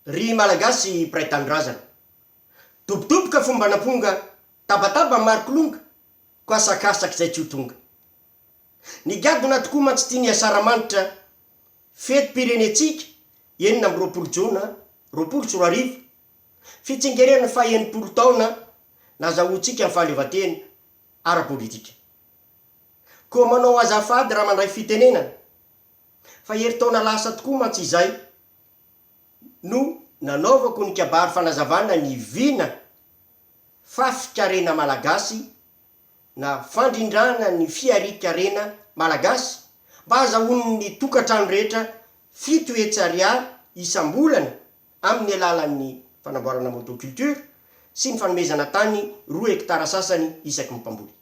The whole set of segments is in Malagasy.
Ry Malagasy mpiray tanindrazana. Dobodoboka fomban'amponga tabataba maro kilonga ko asakasak'izay tsy ho tonga. Ny gadona tokoa mantsy tia ny Asaramanitra fetim-pirenentsika enina amby roapolo jona roapolo sy roa arivo, fitsingerenan'ny faha enimpolo taona nazahoantsika ny fahaleovantena ara-politika. Koa manao azafady raha mandray fitenenana. Fa herintaona lasa tokoa mantsy izay no nanaovako ny kabary fanazavana ny vina fafi-karena malagasy na fandrindrana ny fiaria-karena malagasy mba hazahoan'ny tokantrano rehetra fito hetsy ariary isam-bolana amin'ny alalan'ny fanamboarana motoculture sy ny fanomezana tany roa hekitara sasany isaky ny mpamboly.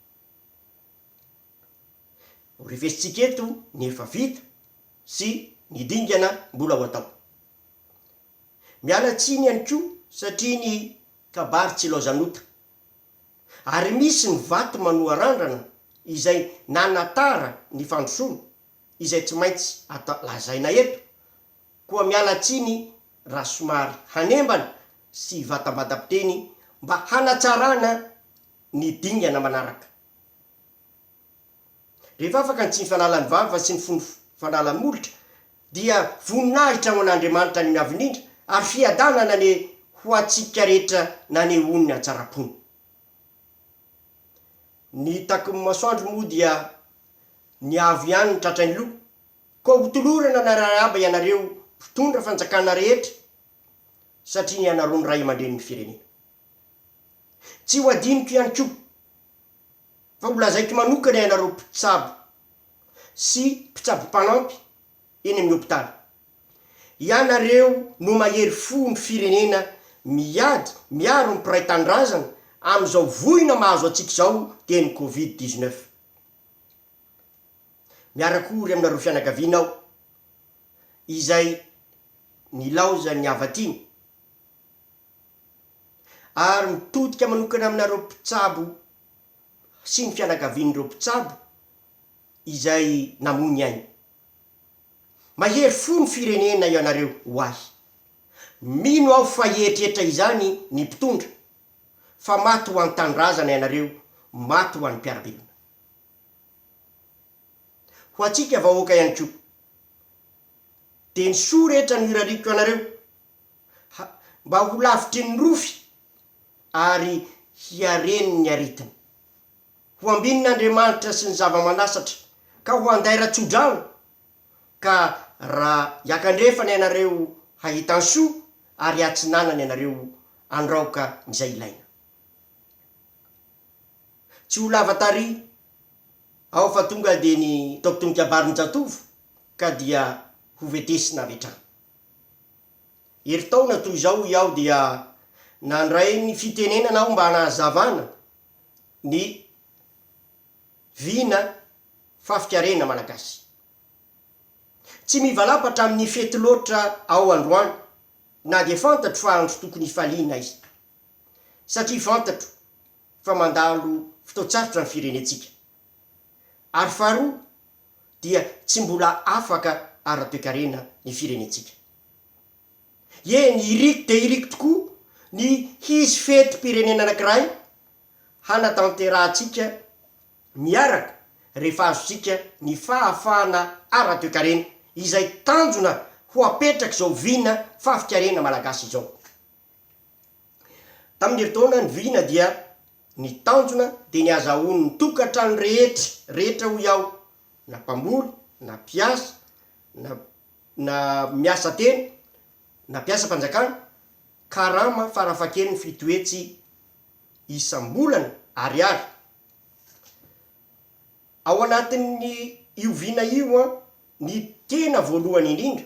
Ho revesintsika eto ny efa vita sy ny dingana mbola ho atao. Miala tsiny ihany koa satria ny kabary tsy ilaozan'ota. Ary misy ny vato manoa randrana izay nanatara ny fandrosoana izay tsy maintsy atao lazaina eto, koa miala tsiny raha somary hanembana sy vatam-badam-piteny mba hanatsarana ny dingana manaraka. Rehefa afaka ny tsiny fanalany vava sy ny fony fanalany molotra dia voninahitra ho an'Andriamanitra any amin'ny Avo Indrindra ary fiadanana anie ho antsika rehetra nanehoany hatsaram-pony. Ny taky ny masoandro moa dia ny Avo ihany no tratran'ny loha, koa ho tolorana ny arahaba ianareo mpitondra fanjakana rehetra satria ny ianareo no Ray aman-drenin'ny firenena. Tsy ho adinoko ihany koa fa ho lazaiko manokana ianareo mpitsabo sy mpitsabo mpanampy eny amin'ny hopitaly. Ianareo no mahery fo ny firenena miady miaro ny mpiray tanindrazana amin'izao voina mahazo antsika izao dia ny covid dix-neuf. Miara-kory aminareo fianakaviana aho izay nilaozan'ny havatiny. ary mitodika manokana aminareo mpitsabo sy ny fianakavian'ireo mpitsabo izay namoy ny ainy. Mahery fo ny firenena ianareo ho ahy. Mino aho fa hieritreritra izany ny mpitondra, fa maty ho an-tanindrazana ianareo, maty ho an'ny mpiara-belona. Ho antsika vahoaka ihany koa. Dia ny soa rehetra no irariako anareo. ha, mba ho lavitry ny rofy ary hiareny ny aretina. Ho ambinin' Andriamanitra sy ny zava-manasatra, ka ho handaira tso-drano, ka ra hiakandrefana ianareo hahitan-soa, ary hiatsinanana ianareo handraoka izay ilaina. Tsy ho lava tary aho fa tonga dia ny taotom-kabarin-jatovo, ka dia hovetesina avy hatrany. Herintaona toy izao hoy aho dia nandray ny fitenenana aho mba hanazavana ny vina fafikarena malagasy. Tsy mivalampatra amin'ny fety loatra aho androany na dia fantatro fa andro tokony hifaliana aiza. Satria fantatro fa mandalo fotoan-tsarotra ny firenentsika. Ary faharoa, dia tsy mbola afaka ara-toekarena ny firenentsika. Eny, iriko dia iriko tokoa ny hisy fetim-pirenena anankiray hanatanterahantsika miaraka rehefa azontsika ny fahafahana ara-toekarena, izay tanjona ho apetrak'izao vina fahafikarena malagasy izao. Tamin'ny herintaona nivirina dia ny tanjona dia ny hazahoan'ny tokantrano rehetra rehetra hoy aho na mpamboly na mpiasa na na miasa tena na mpiasam-panjakana karama farafahakeliny fito hetsy isam-bolana ariary. Ao anatin'ny io vina io an ny tena voalohany indrindra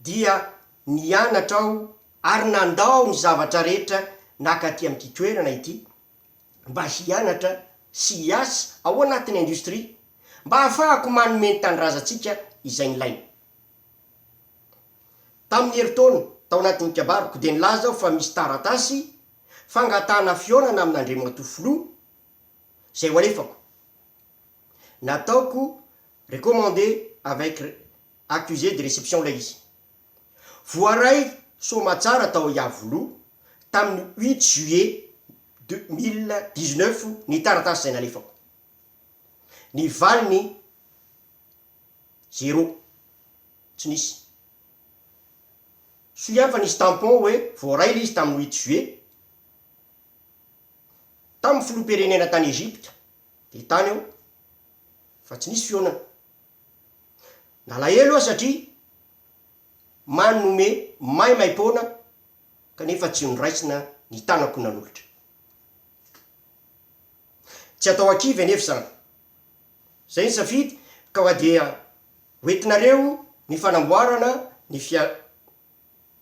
dia nianatra aho ary nandao ny zavatra rehetra naka aty amin'ity toerana ity mba hianatra sy hiasa ao anatin'ny industrie mba hahafahako manome ny tanindrazantsika izay nilaina. Tamin'ny herintaona tao anatin'ny kabaroko dia nilaza aho fa misy taratasy fangatahana fihaonana amin'Andriamatoa Filoha izay ho alefako. Nataoko recommandé avec accusé de réception ilay izy. Voaray soamatsara tao Iavoloha tamin'ny huit juillet deux mille dix-neuf ny taratasy izay nalefako. Ny valiny zéro, tsy nisy. Soa ihany fa nisy tampon hoe voaray ilay izy tamin'ny huit juillet tamin'ny filoham-pirenena tany Egypte, dia tany aho fa tsy nisy fihaonana. Nalahelo aho satria manome maimaim-poana kanefa tsy noraisina ny tanako nanolotra. Tsy atao an-kivy anefa izany. Izay ny safidy ka wa dia hoentinareo ny fanamboarana ny fia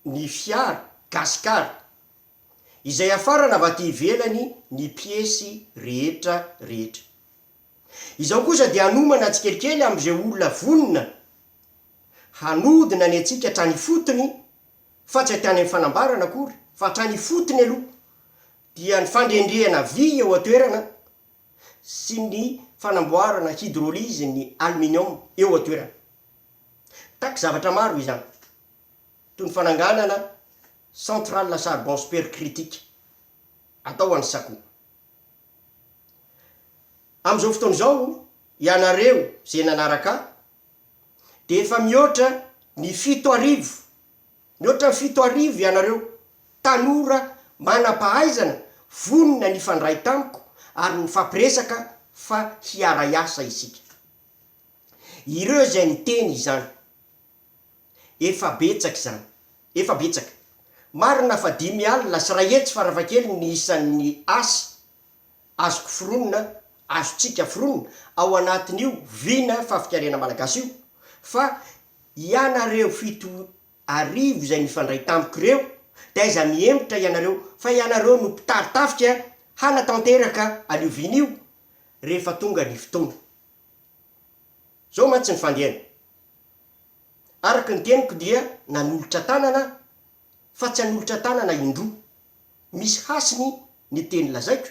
ny fiara Gasikara izay hafarana avy aty ivelany ny piesy rehetra rehetra. Izao kosa dia hanomana tsikelikely amin'izay olona vonona hanodina ny antsika hatrany ifotony fa tsy hatrany amin'ny fanambarana akory fa hatrany ifotony aloha dia ny fandrendrehana vy eo an-toerana sy ny fanamboarana hydrolyse ny aluminium eo an-toerana. Mitaky zavatra maro izany toy ny fananganana centrale à charbon supercritique atao any Saco. Amin'izao fotoana izao, ianareo izay nanaraka ahy, dia efa mihoatra ny fito arivo, mihoatra ny fito arivo ianareo tanora manam-pahaizana vonona ny hifandray tamiko ary nifampiresaka fa hiara-hiasa isika. Ireo izay niteny izany. Efa betsaka izany. Efa betsaka. Marina fa dimy alina sy iray hetsy farafahakeliny ny isan'ny asa azoko foronina, azontsika foronina, ao anatin'io vina fahafikariana malagasy io, fa ianareo fito arivo izay nifandray tamiko ireo, dia aiza mihemotra ianareo, fa ianareo no mpitari-tafika hanatanteraka an'io vina io rehefa tonga ny fotoana. Izao mantsy ny fandehany. Araka ny teniko dia nanolotra tanana aho fa tsy hanolotra tanana indroa. Misy hasiny ny teny lazaiko,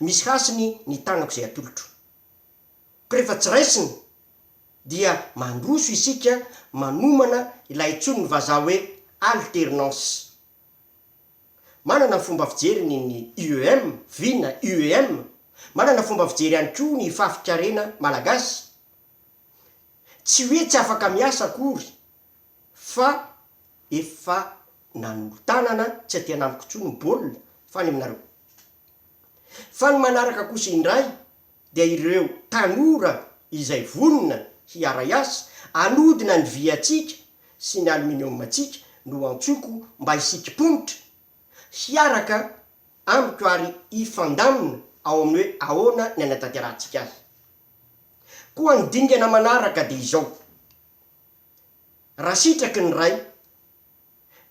misy hasiny ny tanako izay atolotro. Ko rehefa tsy raisina dia mandroso isika manomana ilay antsoin'ny vazaha hoe alternance. Manana ny fomba fijeriny ny IEM, vina, IEM, manana fomba fijery ihany koa ny fafin-karena malagasy. Tsy hoe tsy afaka miasa akory fa efa nanolo-tanana tsy aty anamiko intsony ny baolina fa any aminareo. Fa ny manaraka kosa indray dia ireo tanora izay vonona hiara-hiasa hanodina ny vy-antsika sy ny aluminium-ntsika no antsoiko mba hisikim-ponitra, hiaraka amiko ary hifandamina ao amin'ny hoe ahoana ny hanatanterahantsika azy. Koa ny dingana manaraka dia izao, raha sitraky ny Ray,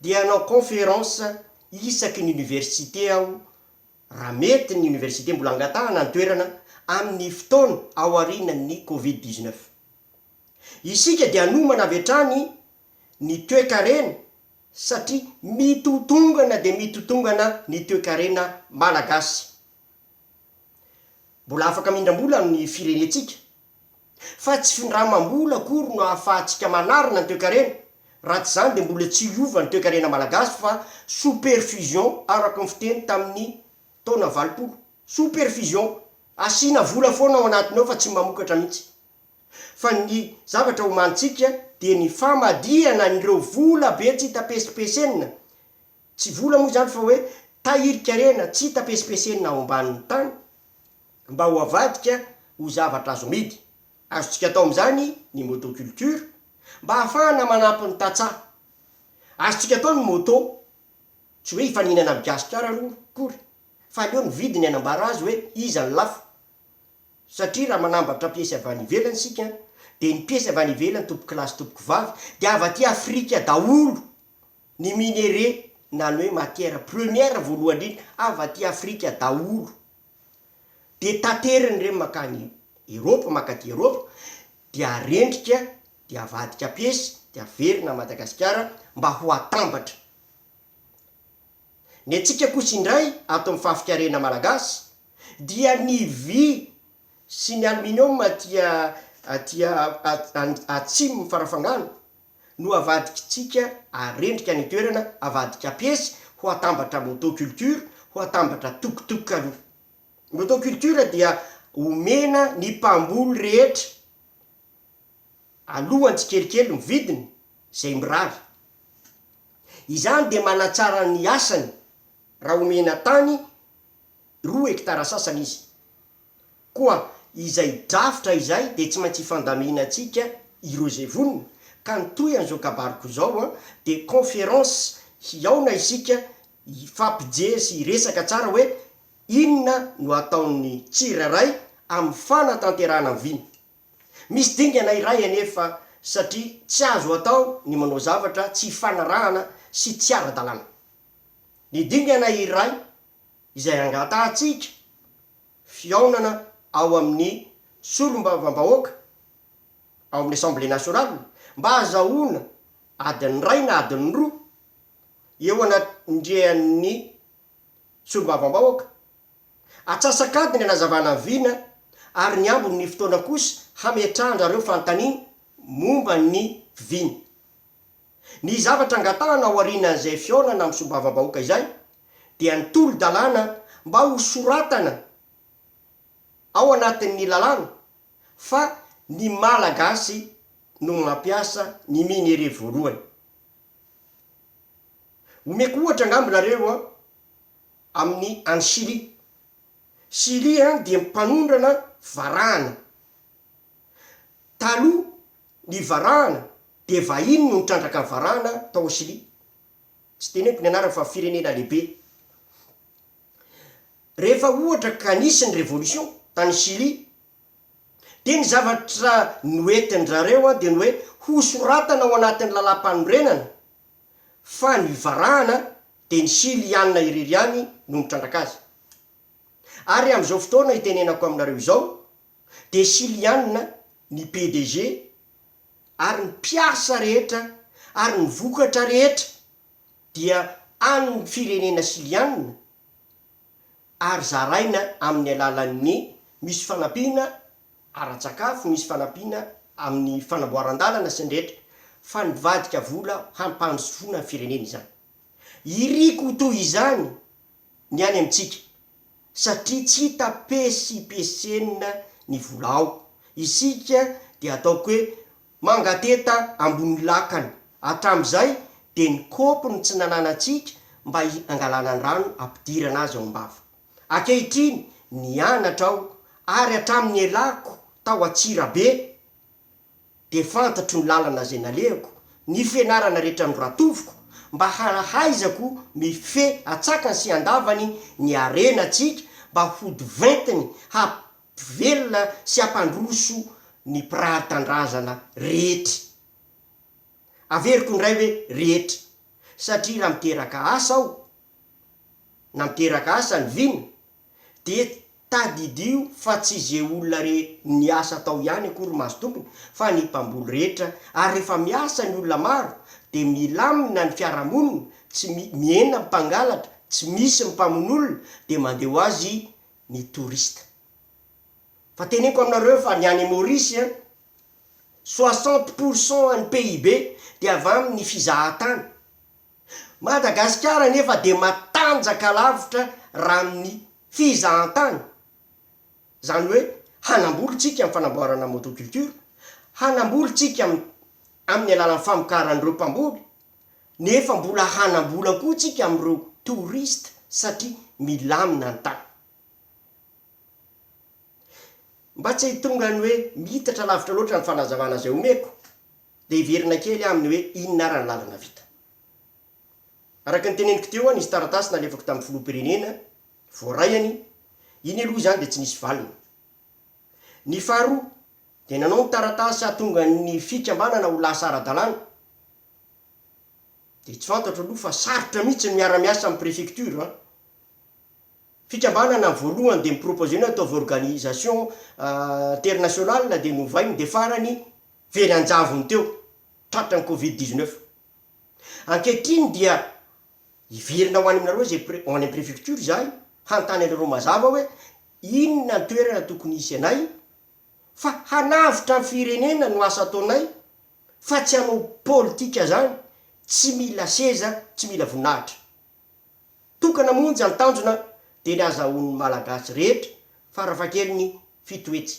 dia hanao conférence isaky ny université aho, raha mety ny université mbola angatahana ny toerana, amin'ny fotoana aorianan'ny covid dix-neuf. Isika dia hanomana avy hatrany ny toekarena satria mitotongana dia mitotongana ny toekarena malagasy. Mbola afaka mindram-bola ny firenentsika, fa tsy findramam-bola akory no ahafahantsika manarina ny toekarena, raha tsy izany dia mbola tsy hiova ny toekarena malagasy fa sous-perfusion araka ny fiteny tamin'ny taona valopolo. Sous-perfusion, asiana vola foana ao anatiny ao fa tsy mamokatra mihitsy. fa ny zavatra omanintsika dia ny famadihana an'ireo vola be tsy hita pesipesenina, tsy vola moa izany fa hoe tahirikarena tsy hita pesipesenina ao ambanin'ny tany, mba ho avadika ho zavatra azo amidy, azontsika atao amin'izany ny motoculture, mba ahafahana manampy ny tantsaha, azontsika atao ny moto, tsy hoe hifaninana amin'i Gasikara aloha akory, fa aleo ny vidiny hanambara azy hoe iza ny lafo. Satria raha manambatra piesy avy any ivelany isika dia ny piesy avy any ivelany tompoko lahy sy tompoko vavy dia avy aty Afrika daholo, ny minerais na ny hoe matière première voalohany indrindra avy aty Afrika daholo, dia tateriny ireny mankany Eropa, mankaty Eropa, dia arendrika, dia avadika piesy, dia averina à Madagasikara mba ho atambatra. Ny antsika kosa indray ato amin'ny fahafikarena malagasy, dia ny vy sy ny aluminium aty aty atsimon'ny farafangana no avadikitsika arendrika any an-toerana, avadik'Apesy ho atambatra motoculture, ho atambatra tokotok aloha. Motoculture dia omena ny mpamboly rehetra alohan'ny tsikelikely ny vidiny izay mirary. Izany dia manatsara ny asany raha omena tany roa hektara sasany izy. Koa izay drafitra izay dia tsy maintsy hifandaminantsika ireo izay vonona, ka ny tohin'izao kabariko izao dia conférence hihaona isika hifampijery sy hiresaka tsara hoe inona no hataon'ny tsirairay amin'ny fanatanterahana ny vina. Misy dingana iray anefa satria tsy azo atao ny manao zavatra tsy ifanarahana sy tsy ara-dalàna. Ny dingana iray izay angatahantsika fihaonana ao amin'ny Solombavambahoaka, ao amin'ny Assemblée Nationale, mba hahazahoana adiny iray na adiny roa eo anatrehan'ny Solombavambahoaka, atsasak'adiny hanazavana vina ary ny ambin'ny fotoana kosa hametrahan-dRareo fanontaniana momba ny vina. Ny zavatra angatahana aorianan'izay fihaonana amin'ny solombavambahoaka izay dia ny tolo-dalàna mba ho soratana ao anatin'ny lalàna fa ny Malagasy no mampiasa ny minerais voalohany. Omeko ohatra angamba nareo an, amin'ny any Chili. Chili an dia mpanondrana varahana. Taloha Ny varahana dia vahiny no nitrandraka ny varahana tao Osilia. Tsy teneniko ny anarany fa firenena lehibe. Rehefa ohatra ka nisy ny revolution tany Chili dia ny zavatra noentin-dry zareo dia ny hoe hosoratana ao anatin'ny lalam-panorenana fa ny varahana dia ny Chiliana irery ihany no nitrandraka azy. Ary amin'izao fotoana itenenako aminareo izao dia Shiliana ny PDG ary ny mpiasa rehetra ary ny vokatra rehetra dia an'ny firenena Shiliana ary zaraina amin'ny alalan'ny misy fanampiana ara-tsakafo, misy fanampiana amin'ny fanamboaran-dalana sy ny rehetra fa nivadika vola hampandrosoana ny firenena izany. Iriko toy izany ny any amintsika satria tsy hita pesipesenina ny vola ao, isika dia ataoko hoe mangateta ambony lakana, hatramin'izay dia ny kaopy no tsy nananantsika mba hangalana ny rano hampidirana azy ao am-bava. Ankehitriny nianatra aho ary hatramin'ny nialako tao Antsirabe Dia fantatro ny lalana izay nalehako, ny fianarana rehetra noratoviko, mba hahaizako mifehy an-tsakany sy an-davany ny harenantsika, mba hody ventiny hampivelona sy hampandroso ny mpirary tandrazana rehetra. Averiko indray hoe rehetra, satria raha miteraka asa aho, na miteraka asa ny vina, dia tadidio fa tsy ze olona re niasa tao ihany akory mahazo tombony fa ny mpamboly rehetra ary rehefa miasa ny olona maro dia milamina ny fiarahamonina tsy mi, mihena ny mpangalatra tsy misy ny mpamono olona dia mandeha ho azy ny touriste fa teneniko aminareo fa ny any Maurice an soixante pour cent an'ny PIB dia avy amin'ny fizahan-tany Madagasikara anefa dia matanjaka lavitra raha amin'ny fizahantany, izany hoe hanamboly isika amin'ny fanamboarana motoculture, hanamboly isika am amin'ny alalan'ny famokaran'ireo mpamboly, nefa mbola hanambola koa isika amin'ireo touriste satria milamina ny tany. Mba tsy hitonga ny hoe miitatra lavitra loatra ny fanazavana izay omeko. dia hiverina kely aho amin'ny hoe inona ary ny lalana vita. Araka ny teneniko teo aho nisy taratasy nalefako tamin'ny filoham-pirenena, voaray anie, iny aloha izany dia tsy nisy valiny. Ny faharoa dia nanao ny taratasy hahatonga ny fikambanana ho lasa ara-dalàna, dia tsy fantatro aloha fa sarotra mihitsy ny miara-miasa amin'ny prefecture an! Fikambanana voalohany dia mi-proposer ny ataovy organisation internationale dia novainy dia farany very an-javony teo tratran'ny covid dix neuf. Ankehitriny dia hiverina ho any aminareo izay pre, ho any amin'ny prefecture izahay hanontany anareo mazava hoe inona ny toerana tokony hisy anay fa hanavotra ny firenena no asa ataonay fa tsy hanao politika zany tsy mila seza tsy mila voninahitra. Tokana monja ny tanjona dia ny azahoan'ny Malagasy rehetra farafahakeliny fito hetsy.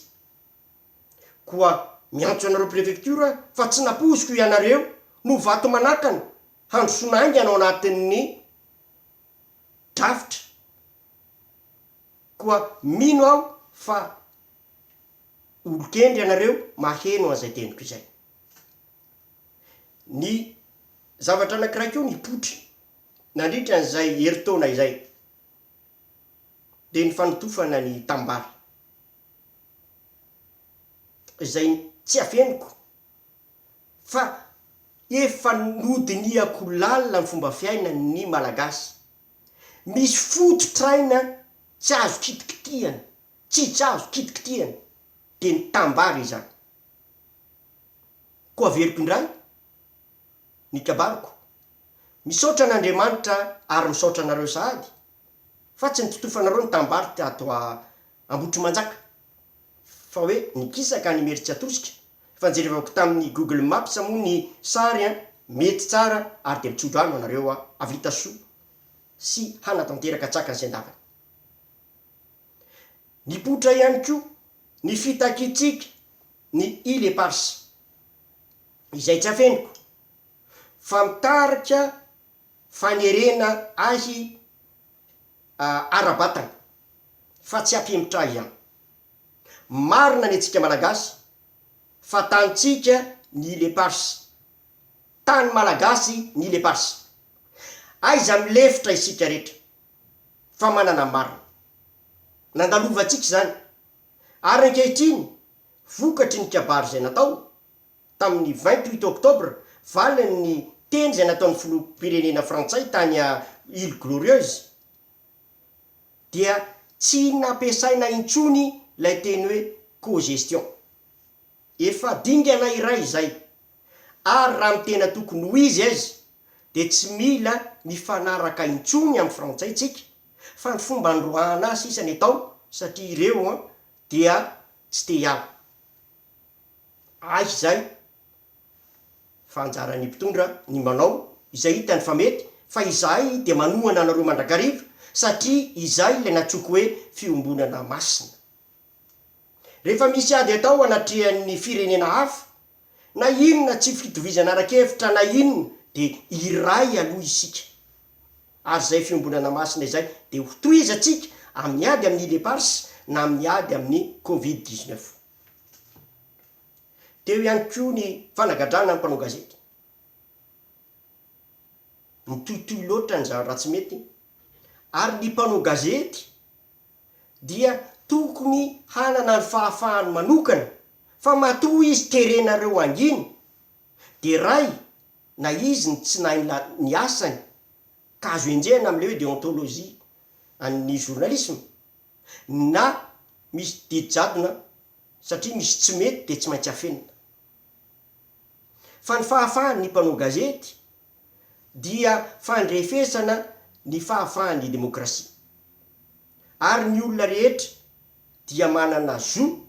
Koa miantso anareo prefecture aho fa tsy nampoiziko ianareo no vato manakana handrosoana haingana ao anatin'ny drafitra koa mino aho fa olon-kendry ianareo maheno an'izay teniko izay. Ny zavatra anankiray koa nipoitra. Nandritra an'izay herintaona izay dia nifanotofana ny tanimbary, izay tsy afeniko fa efa nodinihako lalina ny fomba fiainan'ny Malagasy. Misy fototr'aina tsy azo kitikitihana, tsy tsy azo kitikitihana, dia ny tanimbary izany. Koa averiko indray, ny kabariko. Misaotra an' Andriamanitra ary misaotra anareo sahady fa tsy nitotofanareo ny tanimbary tato Ambohitrimanjaka fa hoe nikisaka any Imeritsiatosika fa jerevako tamin'ny Google Maps moa ny sary an, mety tsara ary dia mitsodrano anareo havita soa sy hanatanteraka tsaka ny sendavany. Mipoitra ihany koa ny fitakiantsika. ny îles éparses, izay tsy afeniko, fa mitarika fanerena ahy ara-batana, fa tsy afemitra ahy ihany. Marina ny antsika Malagasy, fa tanintsika ny îles éparses, tany Malagasy ny îles éparses. Aiza milefitra isika rehetra, fa manana ny marina. Nandalovantsika izany, Ary ankehitriny, vokatry ny kabary izay natao, tamin'ny vingt huit octobre, valo amin'ny teny izay nataon'ny filoham-pirenena frantsay tany à Îles Glorieuses, dia tsy nampiasaina intsony ilay teny hoe cogestion. Efa dingana iray izay. Ary raha ny tena tokony ho izy aizy dia tsy mila mifanaraka intsony amin'ny frantsay tsika fa ny fomba nandroahana azy sisa ny atao satria ireo an dia tsy te hiala. Aiza izay fa anjaran'ny mpitondra ny manao izay hitany fa mety fa izahay dia manohana anareo mandrakariva satria izay ilay natsoiko hoe fiombonana masina. Rehefa misy ady atao anatrehan'ny firenena hafa, na inona tsy fitovizana ara-kevitra na inona dia iray aloha isika. Ary izay fiombonana masina izay dia hotohizantsika amin'ny ady amin'ny Leopards na amin'ny ady amin'ny Covid dix neuf. Teo ihany koa ny fanagadrana ny mpanao gazety. Mitohitohy loatra ny zavatra tsy mety ary ny mpanao gazety dia tokony hanana ny fahafahany manokana fa matoa izy terenareo hangina dia ray na izy ny tsy nahay ny asany ka azo enjehina amin'ilay hoe déontologie an'ny journalisme na misy didy jadona satria misy tsy mety dia tsy maintsy afenina fa ny fahafahan'ny mpanao gazety dia fandrefesana ny fahafahan'ny demokrasia. Ary ny olona rehetra dia manana zo,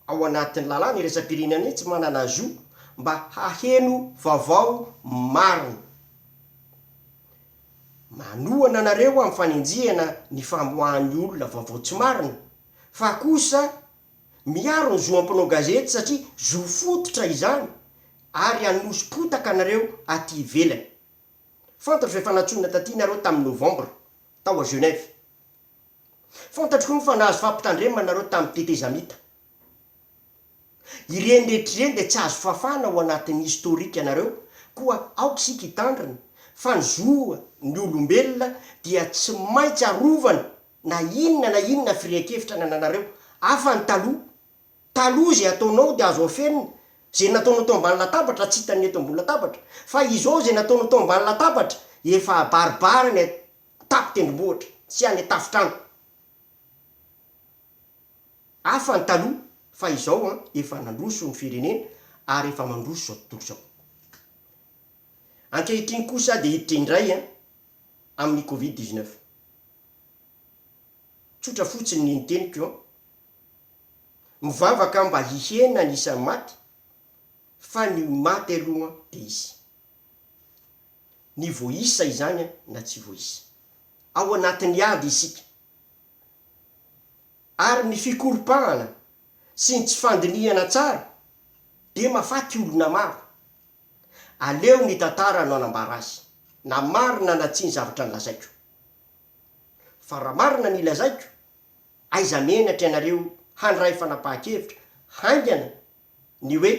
ao anatin'ny lalàna iraisam-pirenena mihitsy manana zo mba haheno vaovao marina. Manohana anareo amin'ny fanenjehana ny famoahan'ny olona vaovao tsy marina, fa kosa, Miaro ny zo am mpanao gazety satria zo fototra izany ary hanoso-potaka anareo aty ivelany. Fantatro fa efa nantsoina taty nareo tamin'ny novambra, tao à Genève. Fantatro koa fa nahazo fampitandremana nareo tamin'ny tetezamita. Ireny rehetra ireny dia tsy azo fafana ao anatin'ny historique anareo koa aoka isika hitandrina fa ny zo ny olombelona dia tsy maintsy arovana. na inona na inona firehan-kevitra nananareo, hafa ny taloha, taloha izay ataonao dia azo afenina, izay nataonao teo ambany latabatra tsy hitan'ny eto ambony latabatra, fa izao izay nataonao teo ambany latabatra efa abaribary any an-tapon-tendrombohitra sy any an-tafon-trano, hafa ny taloha fa izao an efa nandroso ny firenena ary efa mandroso izao tontolo izao, ankehitriny kosa dia hiditra indray an amin'ny covid dix-neuf. Tsotra fotsiny ny niteniko an! Mivavaka aho mba hihena ny isan'ny maty fa ny ho maty aloha dia hisy. Ny voaisa izany na tsy voaisa. Ao anatin'ny ady isika. Ary ny fikoropahana sy ny tsy fandinihana tsara dia mahafaty olona maro. Aleo ny tantara no anambara azy, na marina na tsia ny zavatra nolazaiko. Fa raha marina ny lazaiko, aiza menatra ianareo handray fanapahan-kevitra haingana ny hoe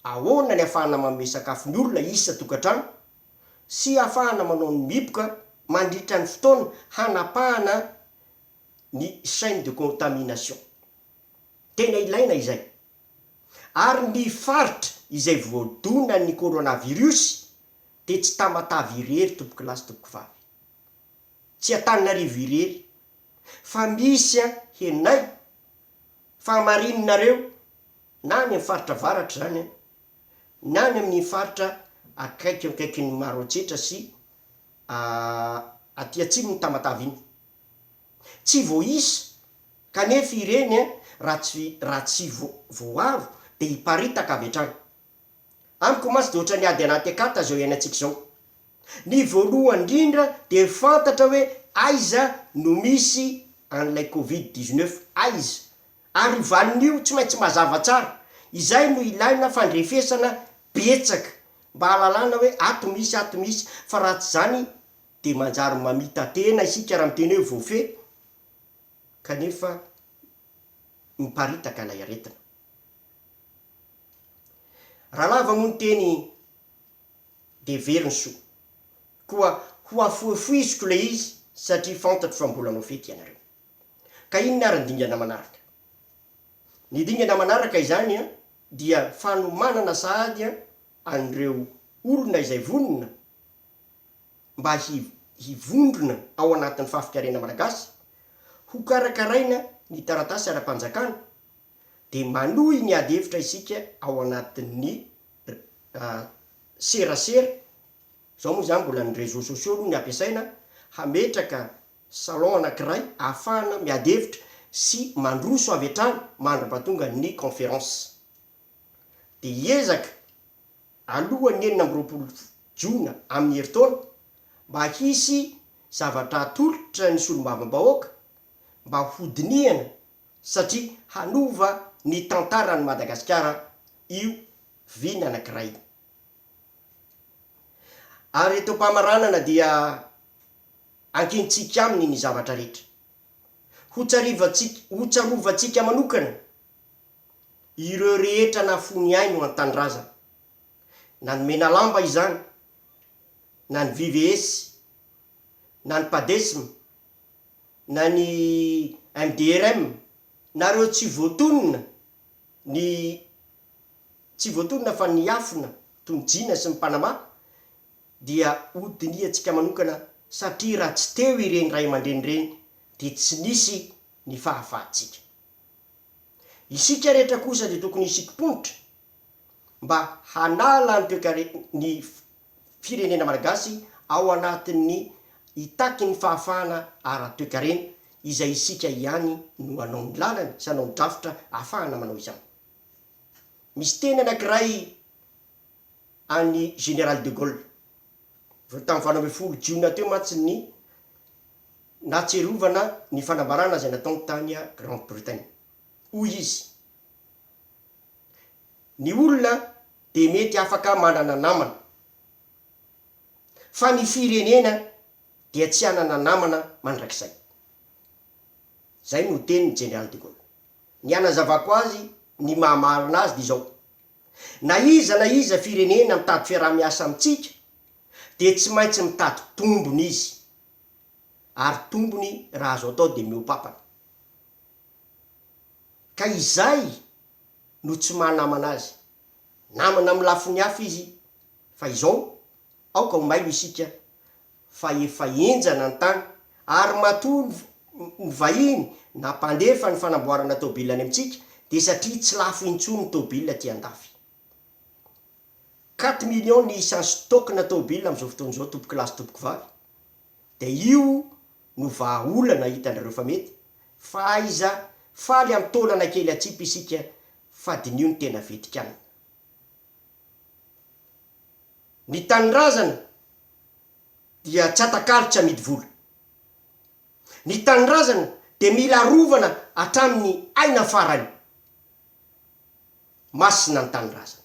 ahoana ny afahana manome sakafo ny olona isa-tokantrano sy afahana manao ny mihiboka mandritra ny fotoana hanapahana ny chaine de contamination. Tena ilaina izay. ary ny faritra izay voadonan'ny coronavirus dia tsy Tamatave irery tompokolahy sy tompokovavy, tsy Antananarivo irery fa misy an henay fa hamarininareo na any amin'ny faritra avaratra izany an ny any amin'ny faritra akaikikaikin'ny Maroantsetra sy aty atsimon'ny Tamatave iny. Tsy vao isa, kanefa ireny raha tsy raha tsy vo voaro dia hiparitaka avy hatrany. Amiko mantsy dia ohatran'ny ady anaty akata izao iainantsika izao. Ny voalohany indrindra dia fantatra hoe aiza no misy an'ilay covid dix neuf, aiza, ary io valiny io tsy maintsy mazava tsara. Izay no ilaina fandrefesana betsaka mba hahalalana hoe ato misy, ato misy, fa raha tsy izany Dia manjary mamita-tena isika raha miteny hoe voafehy kanefa miparitaka ilay aretina. Raha lava moa ny teny dia very ny soa. Koa hohafohifohiziko ilay izy satria fantatro fa mbola hanao fety ianareo. Ka inona ary ny dingana manaraka? Ny dingana manaraka izany dia fanomanana sahady an'ireo olona izay vonona, mba hivondrona ao anatin'ny fafikarena malagasy, hokarakaraina ny taratasy ara-panjakana, dia manohy ny ady hevitra isika ao anatin'ny serasera, izao moa izany mbola ny réseaux sociaux aloha ny ampiasaina, hametraka salon anankiray ahafahana miady hevitra sy mandroso avy hatrany mandra-pahatonga ny conférence. Dia hiezaka alohan'ny enina amby roapolo jona amin'ny herintaona mba hisy zavatra hatolotra ny solombavambahoaka mba hodinihana satria hanova ny tantaran'i Madagasikara io vina anankiray io. Ary eto am-pamaranana dia ankintsika aminy ny zavatra rehetra. Hotsarovantsika, hotsarovantsika manokana Ireo rehetra nahafoy ny ainy ho an-tanindrazana, na ny Menalamba izany, na ny VVS, na ny Padesm, na ny MDRM, na ireo tsy voatonona, ny tsy voatonona fa niafina toy ny Jina sy ny Panama, dia hodinihantsika manokana satria raha tsy teo ireny ray aman-dreny ireny dia tsy nisy ny fahafahantsika. Isika rehetra kosa dia tokony hisikim-ponitra mba hanala ny toekare ny firenena malagasy ao anatin'ny hitaky ny fahafahana ara-toekarena izay isika ihany no hanao ny lalany sy hanao ny drafitra ahafahana manao izany. Misy teny anankiray. an'i Général de Gaulle. Vao tamin'ny valo ambin'ny folo jiona teo mantsy ny nahatsiarovana ny fanambarana izay nataony tany Grande Bretagne. Hoy izy, Ny olona dia mety afaka manana namana, fa ny firenena dia tsy hanana namana mandrakizay. Izay no tenin'i Général de Gaulle. Ny hanazavako azy ny maha marina azy dia izao. Na iza na iza firenena mitady fiaraha-miasa amintsika dia tsy maintsy mitady tombony izy, ary tombony raha azo atao dia mihoa-papana. Ka izay no tsy maha namana azy. Namana amin'ny lafiny hafa izy fa izao, aoka ho mailo isika fa efa henjana ny tany ary matoa ny vahiny na mpandefa ny fanamboarana tôbila any amintsika dia satria tsy lafo intsony ny tôbila aty andafy. Quatre millions ny isan'ny stock-na tôbila amin'izao fotoana izao tompoko lahy sy tompoko vavy dia io no vahaolana hitanareo fa mety fa aiza faly amin'ny taolana kely atsipy isika fa dinio ny tena vetikanina. Ny tanindrazana dia tsy atakalo tsy amidy vola. Ny tanindrazana dia mila arovana hatramin'ny aina farany. Masina ny tanindrazana.